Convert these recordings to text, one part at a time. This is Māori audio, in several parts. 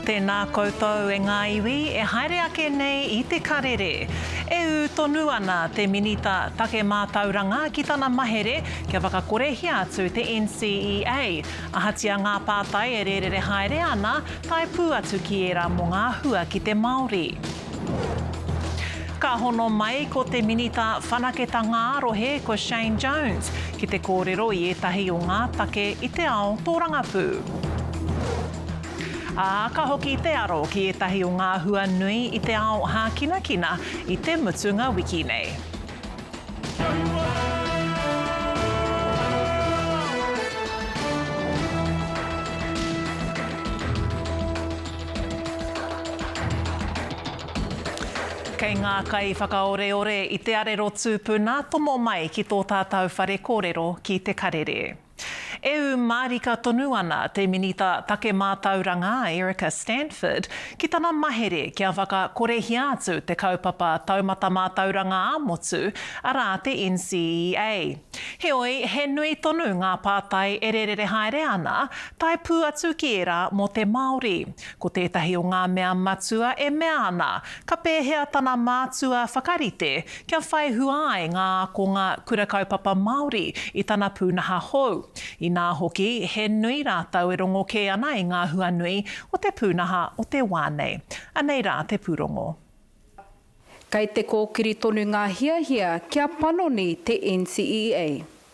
Tēnā koutou e ngā iwi e haere ake nei i te karere. E ū tonu ana te Minita Take Mātauranga ki tana mahere kia whakakorehia atu te NCEA, ahatia ngā pātai e rērere haere ana, tae pū atu ki ērā mō ngā hua ki te Māori. Ka hono mai ko te Minita Whanaketanga-ā-Rohe, ko Shane Jones, ki te kōrero i ētahi o ngā take i te ao tōrangapū. Ā, ka hoki te aro ki ētahi o ngā hua nui i te ao hākinakina i te mutunga wiki nei. Kei ngā kaiwhakaoreore i te arero tūpuna tomo mai ki tō tātau whare kōrero ki Te Karere. E ū mārika tonu ana te Minita Take Mātauranga a Erica Stanford ki tana mahere kia whakakorehia atu te kaupapa taumata mātauranga ā-motu, arā te NCEA. Heoi, he nui tonu ngā pātai e rērere haere ana, tae pū atu ki ērā mō te Māori. Ko tētahi o ngā mea matua e mea ana, ka pēhea tana mātua whakarite Kia whai hua ai ngā ākonga Kura Kaupapa Māori i tana pūnaha hou, inā hoki, he nui rātou e rongo kē ana i ngā hua nui o te pūnaha o te wā nei. Anei rā te pūrongo. Kei te kōkiri tonu ngā hiahia kia panoni te NCEA.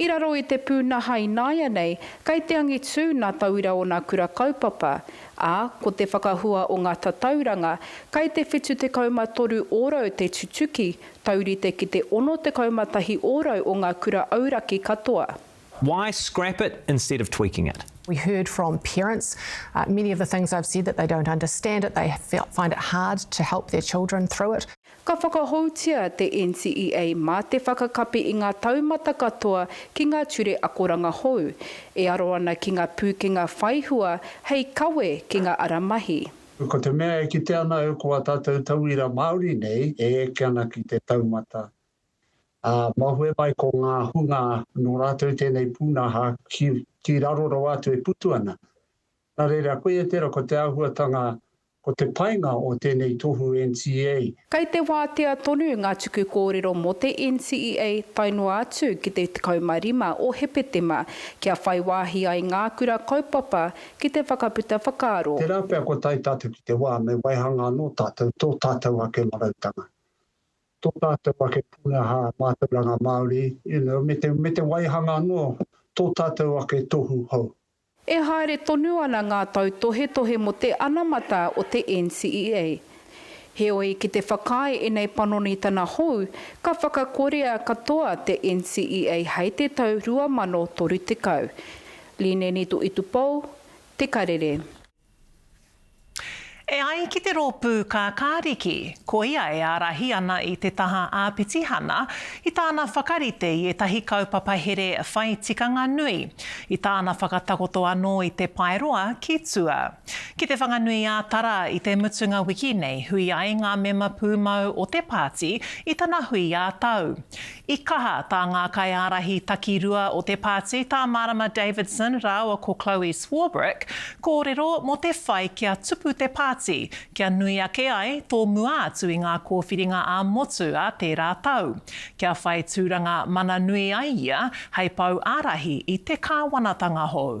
I raro i te pūnaha ināianei, kei te angitū nā tauira ōna kura kaupapa, ā, ko te whakahua o ngā tatauranga, kei te 73 ōrau te tutuki, taurite ki te 61 ōrau o ngā kura auraki katoa. Why scrap it instead of tweaking it? We heard from parents, many of the things I've said that they don't understand it, they find it hard to help their children through it. Ka whakahoutia te NCEA mā te whakakapi i ngā taumata katoa ki ngā ture akoranga hou, e aro ana ki ngā pūkenga whai hua hei kawe ki ngā ara mahi. Ko te mea e kite ana au ko ā tātou tauira Māori nei e eke ana ki te taumata, ā, mahue mai ko ngā hunga nō rātou tēnei pūnaha ki raro rawa atu e putu ana. Nā reira, a koe e tērā, ko te āhuatanga, ko te painga o tēnei tohu NCEA. Kei te wātea tonu ngā tuku kōrero mō te NCEA tae noa atu ki te 15 o Hepetema, kia whai wāhi ai ngā kura kaupapa ki te whakaputa whakaaro. Tērā pea kua tae tātou ki te wā me waihanga anō tātou tō tātou ake marautanga, tō tātou ake pūnaha mātauranga Māori, you know, me te waihanga anō tō tātou ake tohu hou. E haere tonu ana ngā tautohetohe mō te anamata o te NCEA. Heoi, ki te whakaae ēnei panonitana hou, ka whakakorea katoa te NCEA hei te tau 2030. Line Nitoitupou, Te Karere. E ai ki te rōpū Kākāriki, koia e ārahi ana i te taha ā-pitihana i tāna whakarite i ētahi kaupapa here whai tikanga nui, i tāna whakatakoto anō i te paeroa ki tua. Ki Te Whanganui-ā-Tara i te mutunga wiki nei hui ai ngā mema pūmau o te pāti i tana hui ā-tau. I kaha tā ngā kaiārahi takirua o te pāti, tā Marama Davidson rāua ko Chloe Swarbrick, kōrero mō te whai kia tupu te pāti, kia nui ake ai tō mua atu i ngā kōwhiringa ā-motu a tērā tau, kia whai tūranga mana nui ai ia hei pou ārahi i te kāwanatanga hou.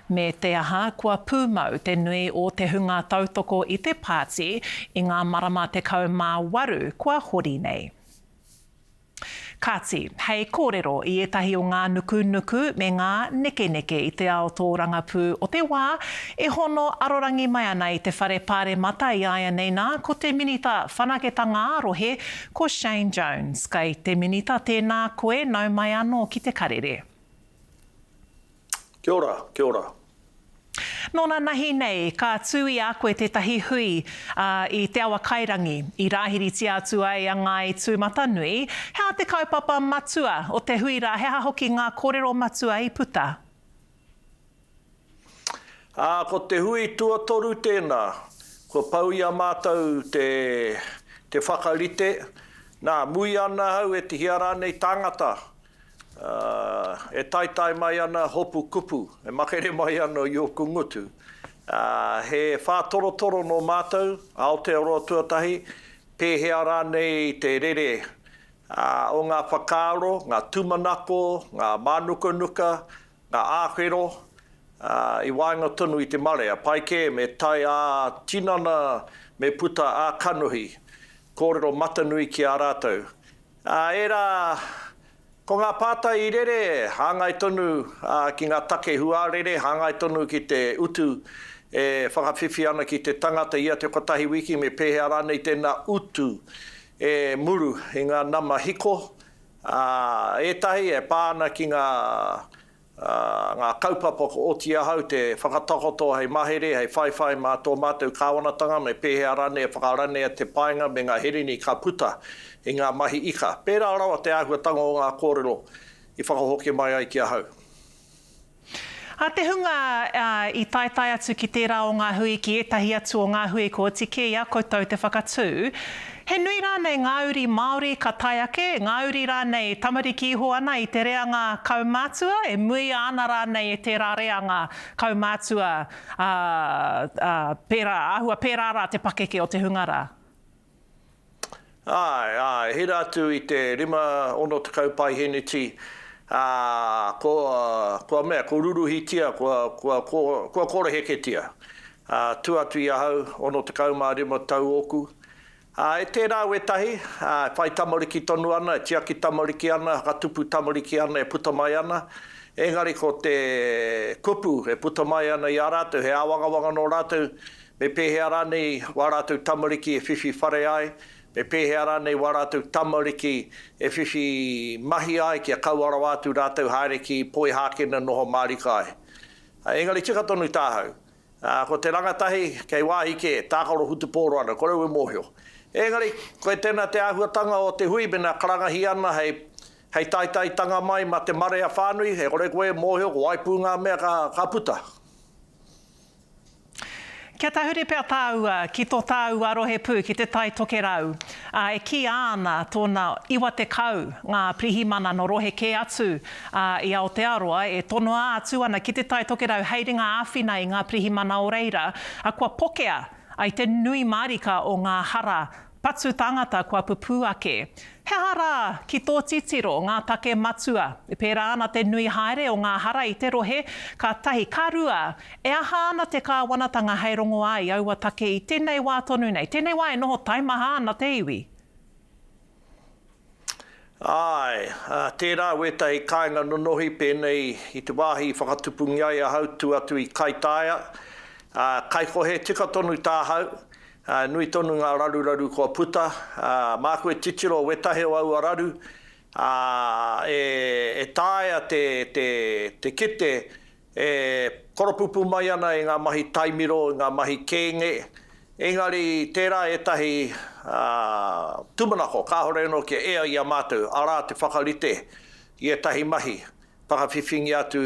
Me te aha, kua pūmau te nui o te hunga tautoko i te pāti i ngā marama 18 kua hori nei. Kāti, hei kōrero i ētahi o ngā nukunuku me ngā nekeneke i te ao tōrangapū o te wā e hono arorangi mai ana i te Whare Pāremata i āianei nā, ko te Minita Whanaketanga-ā-Rohe, ko Shane Jones. Kai te Minita tēnā koe nau mai anō ki te karere. Kia ora, kia ora. Nōna nahi nei, ka tū i a koe tētahi hui, ā, i Te Awakairangi, i rāhiritia atu ai a Ngāi Tūmatanui. He aha te kaupapa matua o te hui rā, he aha hoki ngā kōrero matua i puta? Ā, ko te hui tuatoru tēnā, kua pau i a mātou te, te whakarite, nā, muia ana au e tihia rānei tāngata, E taetae mai ana hopu kupu, e makere mai ana i oku ngutu. He whātorotoro nō mātou, Aotearoa tuatahi, pēhea rānei te rere o ngā whakaaro, ngā tūmanako, ngā mānukanuka, ngā āwhero i waenga tonu i te marea. Pai kē me tae ā-tinana, me puta ā-kanohi kōrero matanui ki a rātou. Ā, ērā, ko ngā pātai i rere, hāngai tonu ki ngā take huarere, hāngai tonu ki te utu e whakawhiwhi ana ki te tangata ia te kotahi wiki, me pēhea rānei tēnā utu e muru i ngā nama hiko, ā, ētahi e pā ana ki ngā ā, ngā kaupapa kua oti ahau te whakatakoto hei mahere, hei whaiwhai mā tō mātou kāwanatanga me pēhea rānei e whakaranea te painga me ngā herini ka puta i ngā mahi ika. Pērā rawa te āhuatanga o ngā kōrero i whakahoki mai ai ki ahau. A te hunga i taetae atu ki tērā o ngā hui, ki ētahi atu o ngā hui kua oti kē i a koutou te whakatū. He nui rānei ngā uri Māori ka tae ake, ngā uri rānei tamariki iho ana i te reanga kaumātua, e muia ana rānei e tērā reanga kaumātua, ā, ā, pērā, āhua pērā rā te pakeke o te hunga rā. Āe, āe, hira atu i te rima, ono tekau paiheneti, ā, kua, kua mea, kua ruruhitia, kua, kua, kua, kua koreheketia. ā, tū atu i ahau, 65 tau ōku. Ā, e tērā wētahi, ā, e whai tamariki tonu ana, e tiaki tamariki ana, e whakatupu tamariki ana, e puta mai ana, engari ko te kupu e puta mai ana i a rātou, he āwangawanga nō rātou, me pēhea rānei wā rātou tamariki e whiwhi whare ai, me pēhea rānei wā rātou tamariki e whiwhi mahi ai kia kaua rawa atu rātou haere ki Poihākena noho mārika ai. Ā, engari tika tonu tāhau. Ā, ko te rangatahi, kei wāhi kē, tākaro whutupōro ana, kore au e mōhio. Engari, koe tēnā te āhuatanga o te hui mēnā karangahi ana hei, hei taitaitanga mai mā te marea whānui, e kore koe e mōhio ko wai pū ngā mea ka, ka puta. Kia tahuri pea tāua ki tō tāua rohe pū, ki te Tai Tokerau, ā, e kīia ana tōna 90 ngā pirihimana nō rohe kē atu Ā, i Aotearoa, e tonoa atu ana ki Te Tai Tokerau hei ringa āwhina i ngā pirihimana o reira, ā, kua pokea ai te nui mārika o ngā hara patu tāngata kua pupū ake. He aha rā, ki tō titiro, ngā take matua? E pērā ana te nui haere o ngā hara i te rohe? Ka tahi. Ka rua, e aha ana te kāwanatanga hei rongoā i aua take i tēnei wā tonu nei, tēnei wā e noho taimaha ana te iwi? Āe, ā, tērā wētahi kāinga nonohi pēnei i te wāhi i whakatupungia ai ahau tū atu i Kaitaia, ā, kaikohe tika tonu tāhau, ā, nui tonu ngā raruraru kua puta, ā, māku e titiro wētahi o aua raru, ā, e, e taea te, te, te kite E koropupū mai ana i ngā mahi taimiro, i ngā mahi kēnge, engari tērā ētahi tūmanako kāore anō kia ea i a mātou, arā te whakarite i ētahi mahi whakawhiwhingia atu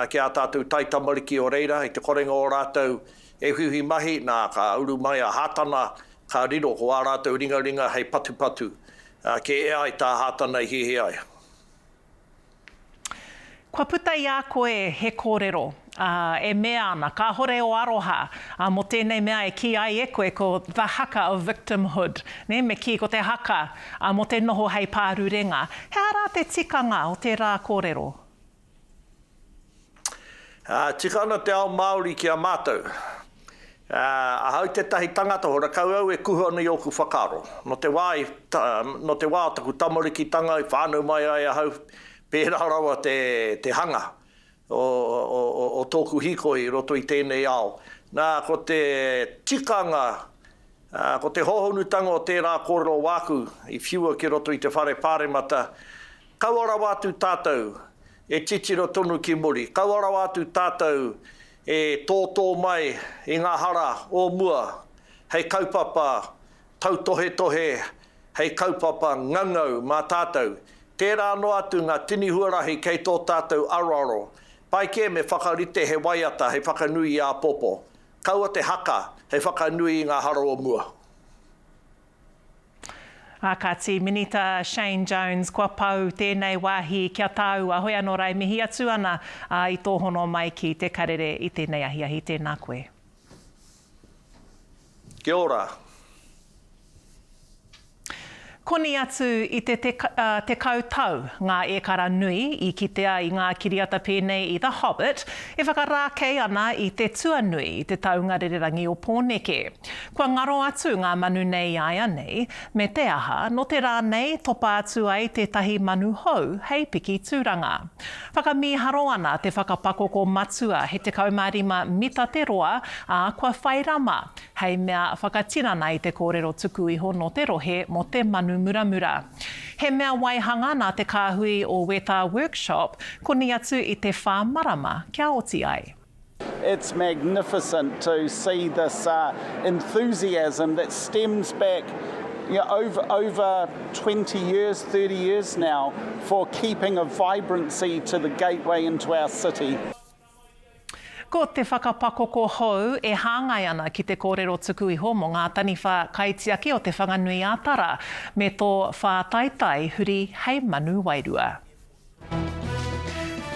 ki ā tātou taitamariki o reira i te korenga o rātou e whiwhi mahi, nā, ka uru mai a Hātana ka riro ko ā rātou ringaringa hei patupatu kia ea ai tā Hātana i hiahia ai. Kua puta i a koe he kōrero, ā, e mea ana, kāhore ō aroha, ā, mō tēnei mea e kī ai e koe ko the haka of victimhood, nē, me kī ko te haka, ā, mō te noho hei pārurenga. He aha rā te tikanga o tērā kōrero? Tika ana te ao Māori ki a mātou. Ahau tētahi tangata hora, kau au e kuhu ana i ōku whakaaro. Nō te wā i, nō te wā o taku tamarikitanga i whānau mai ai ahau, pērā rawa te, te hanga o, o, o, o tōku hīkoi i roto i tēnei ao. Nā, ko te tikanga, ko te hōhonutanga o tērā kōrero wāku i whiua ki roto i te whare Pāremata, Kaua rawa atu tātou e titiro tonu ki muri, kaua rawa atu tātou e tōtō mai i ngā hara o mua hei kaupapa tautohetohe, hei kaupapa ngangau mā tātou. Tērā noa atu ngā tini huarahi kei tō tātou aroaro. Pai kē me whakarite he waiata hei whakanui i āpopo. Kaua te haka hei whakanui i ngā hara o mua. Ā, ka tī Minita Shane Jones, Kua pau tēnei wāhi ki a tāu, a Hoeano Rae mihi atu ana, ā, i tō hono mai ki Te Karere i tēnei ahiahi, tēnā koe. Kia ora. Koni atu i te tekau tau ngā ēkara nui i kitea i ngā kiriata pēnei i The Hobbit e whakarākei ana i te tuanui i te taunga rererangi o Pōneke. Kua ngaro atu ngā manu nei iāianei, me te aha, nō te rā nei topa atu ai tētahi manu hou hei piki tūranga. Whakamīharo ana te whakapakoko matua he 15 mita te roa, ā, kua whai rama, hei mea whakatinana i te kōrero tuku iho nō te rohe mō te manu muramura. He mea waihanga nā te kāhui o Wētā Workshop, koni atu i te whā marama kia oti ai. It's magnificent to see this enthusiasm that stems back over 20 years, 30 years now for keeping a vibrancy to the gateway into our city. Ko te whakapakoko hou e hāngai ana ki te kōrero tuku iho mō ngā taniwha kaitiaki o Te Whanganui-ā-Tara me tō whātaitai huri hei manu wairua.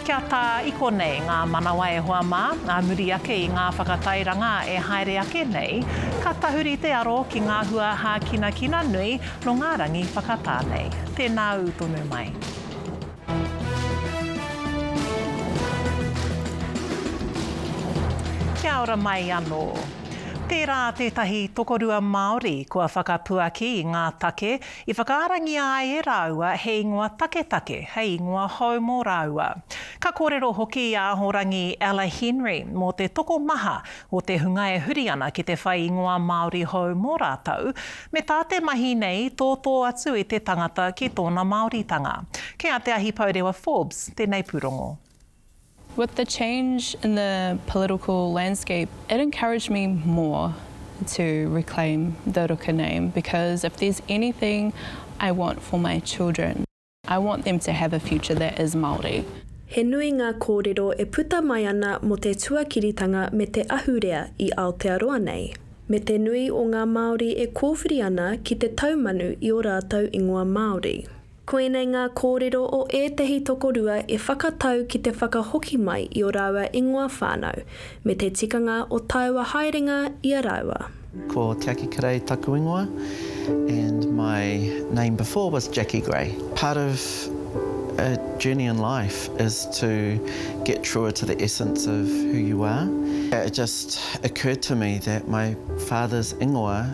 Kia tā iho nei ngā manawa e hoa mā, ā muri ake i ngā whakatairanga e haere ake nei, ka tahuri te aro ki ngā hua hākinakina nui nō ngā rangi whakatā nei. Tēnā ū tonu mai. Kia ora mai anō. Tērā tētahi tokorua Māori kua whakapuaki i ngā take I whakaarangia ai e rāua he ingoa taketake, hei ingoa hou mō rāua. Ka kōrero hoki i a Ahorangi Ella Henry mō te tokomaha o te hunga e huri ana ki te whai ingoa Māori hou mō rātou, me tā te mahi nei tōtō atu i te tangata ki tōna Māoritanga. Kei a Te Ahi Pourewa Forbes tēnei pūrongo. With the change in the political landscape it encouraged me more to reclaim the Ruka name because if there's anything I want for my children I want them to have a future that is Māori. He nui ngā kōrero e puta mai ana mō te tuakiritanga me te ahurea i Aotearoa nei, me te nui o ngā Māori e kōwhiri ana ki te taumanu i ō rātou ingoa Māori. Koinei ngā kōrero o ētehi tokorua e whakatau ki te whakahoki mai i ō rāua ingoa whānau, me te tikanga o tāua haerenga i a rāua. Ko Te Aki Kerei taku ingoa and my name before was Jackie Grey. Part of a journey in life is to get truer to the essence of who you are. It just occurred to me that my father's ingoa,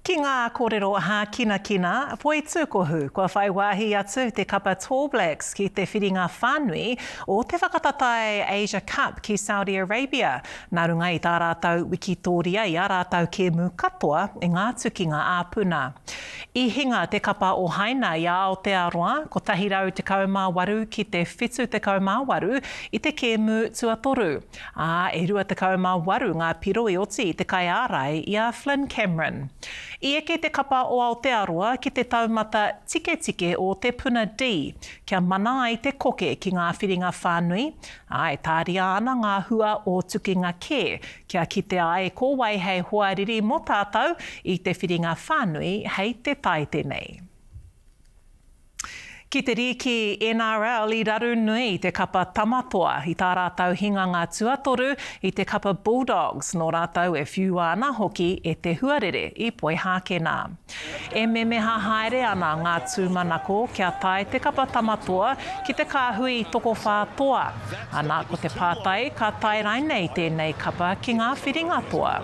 Ki ngā kōrero hākinakina, poitūkohu, kua whai wāhi atu te kapa Tall Blacks ki te whiringa whānui o te whakatatae Asia Cup ki Saudi Arabia, nā runga i tā rātou wikitōria i ā rātou kēmu katoa i ngā tukinga ā-puna. I hinga te kapa o Haina i a Aotearoa, 118 ki te 78 i te kēmu tuatoru. ā, e 28 ngā piro i oti i te kaiārai i a Flynn Cameron. I eke te kapa o Aotearoa ki te taumata tiketike o Te Puna D, kia mana ai te koke ki ngā whiringa whānui, ā, e tāria ana ngā hua o tukinga kē, kia kitea ai ko wai hei hoariri mō tātou i te whiringa whānui hei te tai tenei. Ki te rīki NRL i raru nui i te kapa Tama Toa i tā rātau hinganga tuatoru i te kapa Bulldogs nō rātau e whiua ana hoki e te huarere i Poihākena. E memeha haere ana ngā tūmanako kia tae te kapa Tama Toa ki te kāhui tokowhā toa, ana ko te pātai ka tae rainei tēnei kapa ki ngā whiringa toa.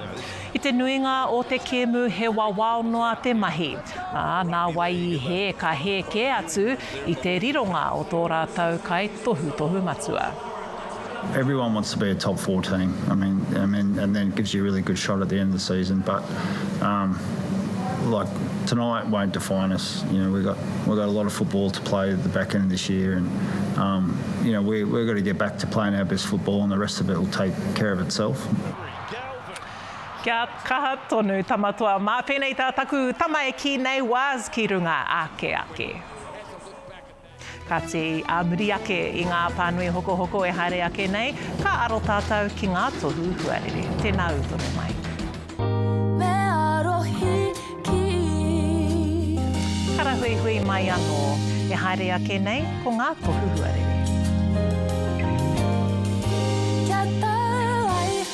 I te nuinga o te kēmu he wawao noa te mahi, ā, nā wai i hē ka hē kē atu i te rironga o tō rātou kai tohutohu matua. Everyone wants to be a top four team. I mean, I mean, and then it gives you a really good shot at the end of the season. But um, like tonight won't define us. You know, we got we got a lot of football to play at the back end of this year, and um, you know we we've got to get back to playing our best football, and the rest of it will take care of itself. Kia kaha tonu tama toa ma penei ta taku tama e ki nei was ki runga ake ake. Kati a muri ake i nga panui hokohoko e haere ake nei ka aro tatou ki nga tohu huarere. Tena u tonu mai. Me arohi ki. Karahuihui mai ano e haere ake nei ko nga tohu huarere.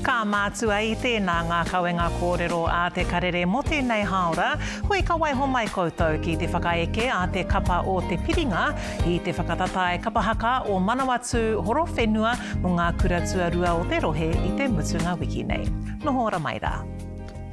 Ka mātua i tēnā ngā kawenga kōrero a Te Karere mō tēnei hāora, hoi ka waiho mai koutou ki te whakaeke a te kapa o Te Piringa i te whakatatae kapa haka o Manawatū Horowhenua mō ngā kura tuarua o te rohe i te mutunga wiki nei. Noho ora mai rā.